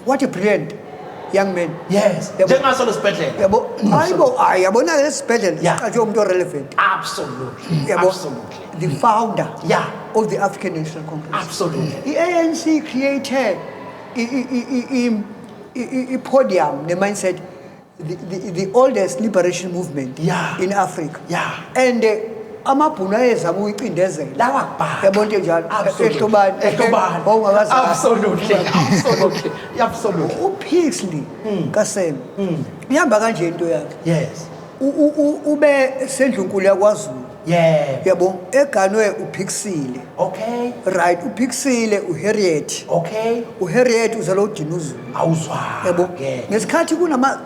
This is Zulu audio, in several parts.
what a brilliant young man yes Yabo- njengaso lesibhedlela yabo hayi bo hayi yabona ke lesibhedlela Yeah. siqatshwe umuntu orelevant absolutely yabo absolutely the founder Yeah. of the african national congress Absolutely. i-anc created i- i- i- i- im- I-podium ne-mindset the, the, the oldest liberation movement yeah. in Africa. Yeah. And uh, amabhunu ayezama ukuyicindezela lawa bhaka yabona into enjalo ehlobani ehlobani wawungakazali absolutely absolutely absolutely upixley hmm. kasem hmm. ihamba kanje into yakhe yes ube sendlunkulu yakwazulu Yeah. yabo eganwe uphikisile Okay. right uphikisile uharriet Okay. uharriet uzalwa udinuzulu Awuzwa. yabo Ke. ngesikhathi kunama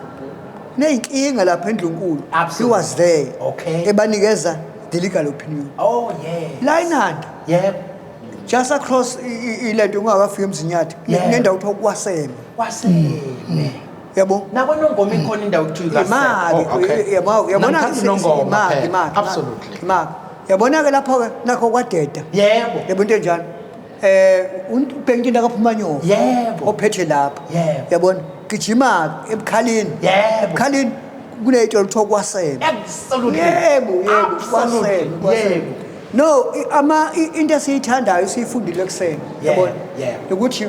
neyinkinga lapha endlunkulu he Absolutely. was there Okay. ebanikeza the legal opinion Oh yeah. la inanda Yep. just across i- i- ilento ungakafika emzinyathi Yeah. nendawo kuthiwa kwaseme Wasele. yabo nakonongoma ikhona indawo okuthiwa imaki kasekho Oh, okay. yabo yabona Namthatha ke unongoma imaki phela. imaki Absolutely. imaki yabona ke lapho ke nakho kwadeda yebo yebo into enjalo eh umpengintini akaphuma nyoko Yebo. ophethe lapha Yebo. yabona gijima ebukhalini Yebo. ebukhalini kuneyitolo kuthiwa kwasebe absolutely yebo yebo Absolutely. kwasebe kwasebe yebo no i- ama i- into esiyithandayo siyifundile kuseni Yebo, yabona yebo. ukuthi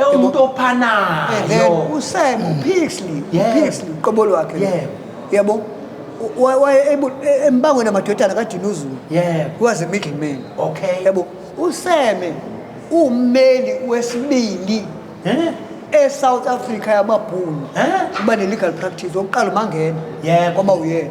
ewumuntu ophanayo and then usem upixley Yeah. upixley uqobo lwakhe Yeah. yabo U- wa- waye ebu- e- embangweni amadodana kadinuzulu Yeah. was a middle man okay yabo useme ummeli wesibili Eh? e-south africa yamabhunu Eh? uba ne-legal practice wokuqala umangena Yebo. kwaba uyena